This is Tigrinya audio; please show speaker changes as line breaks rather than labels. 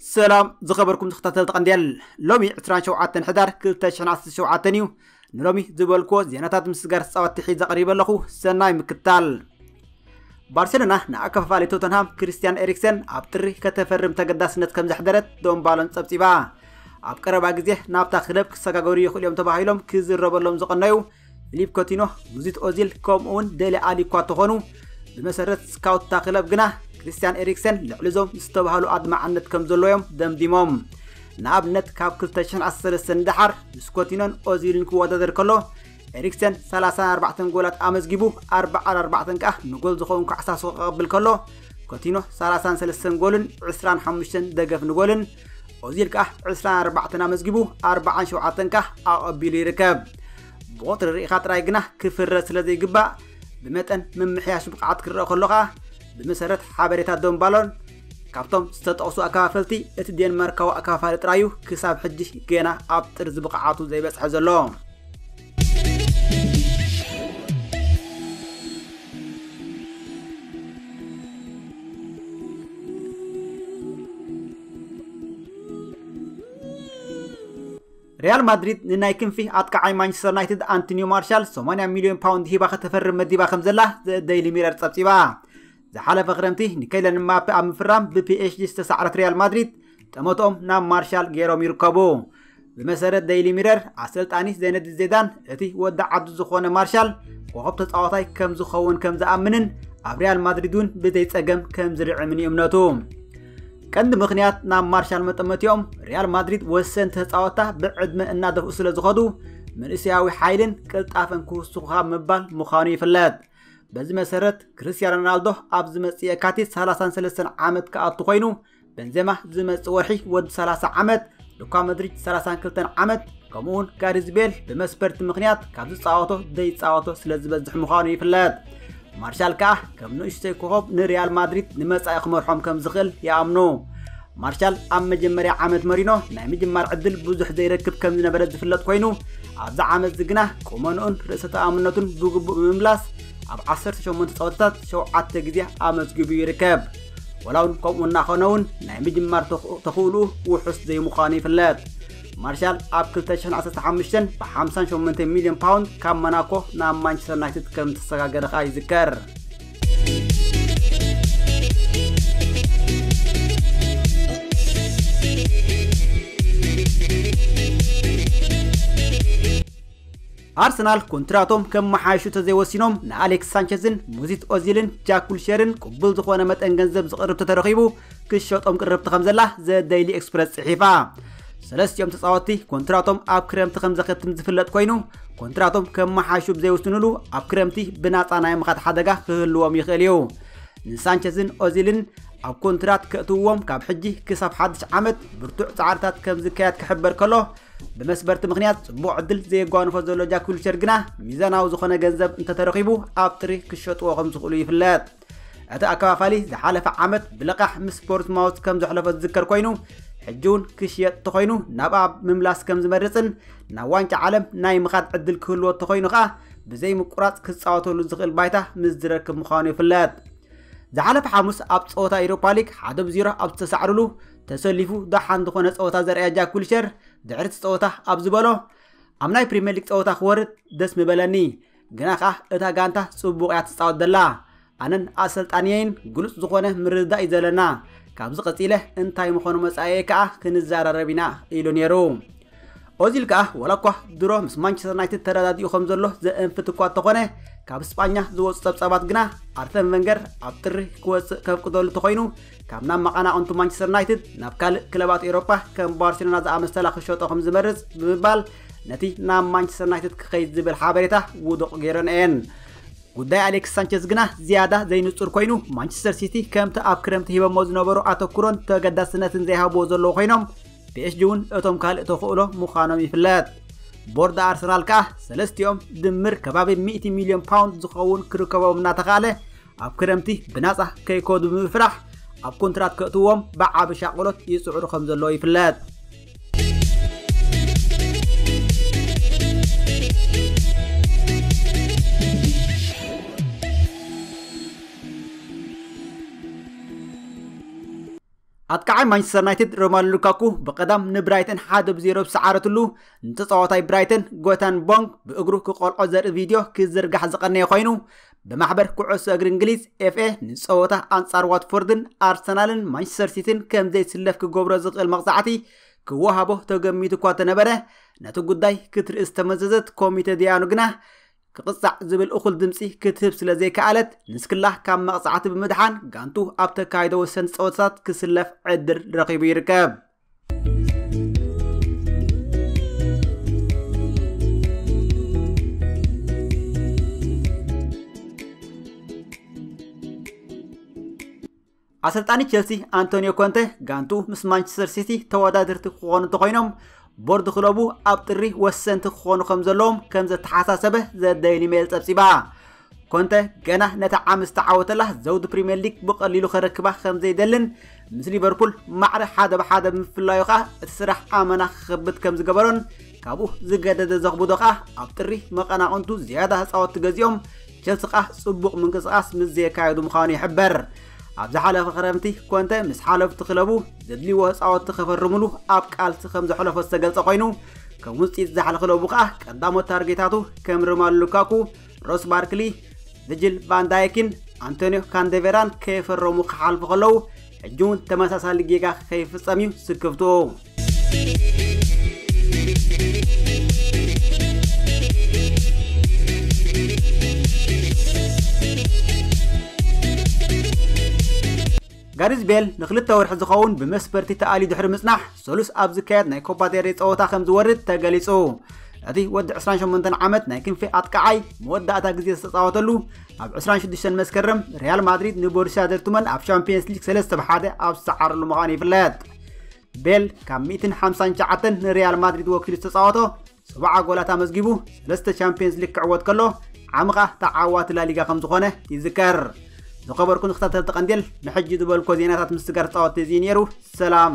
ሰላም ዝኸበርኩም ተኸታተልቲ ቀንዴል ሎሚ 27 ሕዳር 2017 እዩ ንሎሚ ዝበልክዎ ዜናታት ምስጋር ፃወቲ ሒዘ ቀሪበ ኣለኹ ሰናይ ምክታል ባርሴሎና ንኣከፋፋሊ ቶተንሃም ክርስቲያን ኤሪክሰን ኣብ ጥሪ ከተፈርም ተገዳስነት ከም ዘሕደረት ዶንባሎን ጸብጺባ ኣብ ቀረባ ግዜ ናብታ ክለብ ክሰጋገሩ ይኽእሉ እዮም ተባሂሎም ክዝረበሎም ዝቐነዩ ፊሊፕ ኮቲኖ ሙዚት ኦዚል ከምኡውን ደሊ ኣሊ እኳ ተኾኑ ብመሰረት ስካውትታ ክለብ ግና ክርስቲያን ኤሪክሰን ልዕሊ እዞም ዝተባህሉ ኣድማዕነት ከም ዘሎ እዮም ደምዲሞም ንኣብነት ካብ 2013 ንደሓር ምስ ኮቲኖን ኦዚልን ክወዳደር ከሎ ኤሪክሰን 34 ጎላት ኣመዝጊቡ 44 ከኣ ንጎል ዝኸውን ካዕሳሶ ክቐብል ከሎ ኮቲኖ 33 ጎልን 25 ደገፍ ንጎልን ኦዚል ከኣ 24 ኣመዝጊቡ 47 ከኣ ኣቐቢሉ ይርከብ ብቑፅሪ ርኢኻ ጥራይ ግና ክፍረ ስለ ዘይግባእ ብመጠን ምምሕያሽ ብቕዓት ክረአ ከሎ ከኣ ብመሰረት ሓበሬታ ዶምባሎን ካብቶም ዝተጠቕሱ ኣከፋፈልቲ እቲ ዴንማርካዊ ኣከፋፋሊ ጥራዩ ክሳብ ሕጂ ገና ኣብ ጥርዚ ብቕዓቱ ዘይበፅሐ ዘሎ ሪያል ማድሪድ ንናይ ክንፊ ኣጥቃዓይ ማንቸስተር ዩናይትድ ኣንቶኒዮ ማርሻል 80 ሚልዮን ፓውንድ ሂባ ከተፈርም መዲባ ከም ዘላ ደይሊ ሚረር ጸብጺባ ዝሓለፈ ክረምቲ ንከይለን ማፔ ኣብ ምፍራም ብፒኤስጂ ዝተሳዕረት ሪያል ማድሪድ ጠመትኦም ናብ ማርሻል ገይሮም ይርከቡ ብመሰረት ደይሊ ሚረር ኣሰልጣኒ ዘይነዲን ዜዳን እቲ ወዲ ዓዱ ዝኾነ ማርሻል ኮኸብ ተፃዋታይ ከም ዝኸውን ከም ዝኣምንን ኣብ ሪያል ማድሪድ እውን ብዘይፀገም ከም ዝርዕምን እዩ እምነቱ ቀንዲ ምክንያት ናብ ማርሻል መጠመቲኦም ሪያል ማድሪድ ወሰንቲ ተፃወታ ብዕድመ እናደፍኡ ስለ ዝኸዱ መንእሰያዊ ሓይልን ቅልጣፈን ክውስኹ ካብ ምባል ምዃኑ ይፍለጥ በዚ መሰረት ክርስትያን ሮናልዶ ኣብ ዝመፅእ የካቲት 33 ዓመት ክኣቱ ኮይኑ በንዜማ ዝመጽእ ወርሒ ወዲ 30 ዓመት፣ ሉካ መድሪድ 32 ዓመት ከምኡውን ጋሪዝ ቤል ብመስፈርቲ ምክንያት ካብ ዝፃወቶ ዘይፃወቶ ስለ ዝበዝሕ ምዃኑ ይፍለጥ። ማርሻል ከዓ ከም ንእሽተይ ኮኸብ ንሪያል ማድሪድ ንመጻኢ ክመርሖም ከም ዝኽእል ይኣምኑ። ማርሻል ኣብ መጀመርያ ዓመት መሪኖ ናይ ምጅማር ዕድል ብዙሕ ዘይረክብ ከም ዝነበረ ዝፍለጥ ኮይኑ ኣብዚ ዓመት እዚ ግና ቁመንኡን ርእሰ ተኣምነቱን ብግቡእ ብምምላስ ኣብ 18 ጸወታታት ሸውዓተ ግዜ ኣመዝጊቡ ይርከብ። ወላ እውን ከምኡ እናኾነ እውን ናይ ምጅማር ተኽእልኡ ውሑስ ዘይምዃኑ ይፍለጥ ማርሻል ኣብ 2015 ብ58 ሚልዮን ፓውንድ ካብ ሞናኮ ናብ ማንቸስተር ዩናይትድ ከም ዝተሰጋገረ ከዓ ይዝከር ኣርሰናል ኮንትራቶም ከመሓይሹ ተዘይወሲኖም ንኣሌክስ ሳንቸዝን ሙዚት ኦዚልን ጃክ ዊልሼርን ቅቡል ዝኾነ መጠን ገንዘብ ዝቕርብ ተተረኺቡ ክሸጦም ቅርብቲ ከም ዘላ ዘ ደይሊ ኤክስፕረስ ጽሒፋ። ሰለስቲኦም ተጻወትቲ ኮንትራቶም ኣብ ክረምቲ ከም ዘኸትም ዝፍለጥ ኮይኑ ኮንትራቶም ከመሓይሹ ብዘይውስንሉ ኣብ ክረምቲ ብናጻ ናይ ምኻድ ሓደጋ ክህልዎም ይኽእል እዩ። ንሳንቸዝን ኦዚልን ኣብ ኮንትራት ከእትውዎም ካብ ሕጂ ክሳብ ሓድሽ ዓመት ብርቱዕ ጻዕርታት ከም ዝካየድ ክሕበር ከሎ ብመስበርቲ ምክንያት ፅቡቕ ዕድል ዘየጓንፎ ዘሎ ጃክ ዊልቸር ግና ሚዛናዊ ዝኾነ ገንዘብ እንተተረኺቡ ኣብ ጥሪ ክሸጥዎ ከም ዝኽእሉ ይፍለጥ። እቲ ኣከፋፋሊ ዝሓለፈ ዓመት ብለቓሕ ምስ ቦርስማውዝ ከም ዘሕለፎ ዝዝከር ኮይኑ ሕጂ እውን ክሽየጥ ተኾይኑ ናብኣ ምምላስ ከም ዝመርፅን ናብ ዋንጫ ዓለም ናይ ምኻድ ዕድል ክህልዎ ተኾይኑ ከዓ ብዘይ ምቁራፅ ክፃወተሉ ዝኽእል ባይታ ምስ ዝረክብ ምዃኑ ይፍለጥ። ዝሓለፈ ሓሙስ ኣብ ፀወታ ኢሮፓ ሊግ ሓደ ብዜሮ ኣብ ዝተሳዕርሉ ተሰሊፉ ደሓን ዝኾነ ጸወታ ዘርእያ ጃክ ዊልሸር ድሕሪ እቲ ጸወታ ኣብ ዝበሎ ኣብ ናይ ፕሪምየር ሊግ ጸወታ ክወርድ ደስ ምበለኒ ግና ከዓ እታ ጋንታ ጽቡቕ እያ ትፃወት ዘላ ኣነን ኣሰልጣንየይን ግሉፅ ዝኾነ ምርድዳእ እዩ ዘለና ካብዚ ቀፂለ እንታይ ምኾኑ መፃኤ ከዓ ክንዘራረብ ኢና ኢሉ ነይሩ ኦዚል ከኣ ዋላኳ ድሮ ምስ ማንቸስተር ዩናይትድ ተረዳዲኡ ከም ዘሎ ዘእንፍት እኳ እንተኾነ ካብ ስጳኛ ዝወፁ ጸብጻባት ግና ኣርሰን ቨንገር ኣብ ጥሪ ክወፅእ ከፍቅደሉ ተኮይኑ ካብ ናብ መቐናቕንቱ ማንቸስተር ዩናይትድ ናብ ካልእ ክለባት ኤውሮፓ ከም ባርሴሎና ዝኣመሰላ ክሸጦ ከም ዝመርፅ ብምባል ነቲ ናብ ማንቸስተር ዩናይትድ ክኸይድ ዝብል ሓበሬታ ውዱቕ ገይረን እየን ጉዳይ ኣሌክስ ሳንቸዝ ግና ዝያዳ ዘይንጹር ኮይኑ ማንቸስተር ሲቲ ከምቲ ኣብ ክረምቲ ሂበሞ ዝነበሩ ኣተኩሮን ተገዳስነትን ዘይሃብዎ ዘለዎ ኮይኖም ፒኤስጂ እውን እቶም ካልእ ተኽእሎ ምዃኖም ይፍለጥ። ቦርድ ኣርሰናል ከኣ ሰለስቲኦም ድምር ከባቢ 100 ሚልዮን ፓውንድ ዝኸውን ክርከቦም እናተኻእለ ኣብ ክረምቲ ብናጻ ከይከዱ ብምፍራሕ ኣብ ኮንትራት ከእትዎም ብዓቢ ሻቕሎት ይጽዕሩ ከም ዘለዎ ይፍለጥ። ኣጥቃዓይ ማንቸስተር ዩናይትድ ሮማሉ ሉካኩ ብቐዳም ንብራይተን ሓደ ብዜሮ ብሰዓረትሉ ንተፃዋታይ ብራይተን ጎታን ቦንግ ብእግሩ ክቆልዖ ዘርኢ ቪድዮ ክዝርጋሕ ዝቐነየ ኮይኑ ብማሕበር ኩዕሶ እግሪ እንግሊዝ ኤፍኤ ንፀወታ ኣንጻር ዋትፎርድን ኣርሰናልን ማንቸስተር ሲቲን ከም ዘይስለፍ ክገብሮ ዝኽእል መቕፃዕቲ ክወሃቦ ተገሚቱ እኳ ተነበረ ነቲ ጉዳይ ክትርኢ ዝተመዘዘት ኮሚቴ ዲያኑ ግና ክቕጻዕ ዝብል እኹል ድምፂ ክትህብ ስለ ዘይከኣለት ንስክላ ካብ መቕጻዕቲ ብምድሓን ጋንቱ ኣብ ተካይዶ ወሰንቲ ፀወታታት ክስለፍ ዕድል ረኺቡ ይርከብ። ኣሰልጣኒ ቸልሲ ኣንቶኒዮ ኮንተ ጋንቱ ምስ ማንቸስተር ሲቲ ተወዳድርቲ ክኾኑ እንተኾይኖም ቦርድ ክለቡ ኣብ ጥሪ ወሰንቲ ክኾኑ ከም ዘለዎም ከም ዘተሓሳሰበ ዘደይሊ ሜል ጸብጺባ ኮንተ ገና ነታ ዓመት ዝተዓወተላ ዘውዲ ፕሪምየር ሊግ ብቐሊሉ ከረክባ ከም ዘይደልን ምስ ሊቨርፑል ማዕረ ሓደ ብሓደ ብምፍላዩ ከዓ እቲ ስራሕ ኣመና ክኸብድ ከም ዝገበሮን ካብኡ ዝገደደ ዘኽብዶ ከዓ ኣብ ጥሪ መቐናቕንቱ ዝያዳ ህፃወት ገዚኦም ቸልሲ'ከኣ ጽቡቕ ምንቅስቓስ ምስ ዘየካየዱ ምዃኑ ይሕበር። ኣብ ዝሓለፈ ክረምቲ ኮንተ ምስ ሓለፍቲ ክለቡ ዘድልይዎ ተጻወትቲ ከፈርምሉ ኣብ ቃልሲ ከም ዘሕለፎ ዝተገልጸ ኮይኑ ከም ውጽኢት ዛሕሊ ክለቡ ከኣ ቀዳሞት ታርጌታቱ ከም ሮማሉ ሉካኩ፣ ሮስ ባርክሊ፣ ቪጅል ቫንዳይኪን ኣንቶኒዮ ካንደቬራን ከይፈረሙ ክሓልፉ ከለዉ ሕጂ እውን ተመሳሳሊ ጌጋ ከይፍጸም እዩ ስክፍትኡ። ጋሪዝ ቤል ንክልተ ወርሒ ዝኸውን ብመስፈርቲ ተኣልዩ ድሕሪ ምጽናሕ ሰሉስ ኣብ ዝካየድ ናይ ኮፓ ዴሬ ጸወታ ከም ዝወርድ ተገሊጹ እቲ ወዲ 28 ዓመት ናይ ክንፊ ኣጥቃዓይ መወዳእታ ግዜ ዝተጻወተሉ ኣብ 26 መስከረም ሪያል ማድሪድ ንቦሩስያ ዶርትመንድ ኣብ ሻምፒየንስ ሊግ 3 ብ 1 ኣብ ዝሰዓረሉ ምዃኑ ይፍለጥ ቤል ካብ 159 ንሪያል ማድሪድ ወኪሉ ዝተፃወቶ 70 ጎላት ኣመዝጊቡ ሰለስተ ቻምፒየንስ ሊግ ክዕወት ከሎ ዓሚ ከዓ ተዓዋቲ ላሊጋ ከም ዝኾነ ይዝከር ዝኸበርኩን ተኸታተልቲ ቀንዴል ንሕጂ ዝበልኮ ዜናታት ምስጋር ፃወት እዚ ነይሩ ሰላም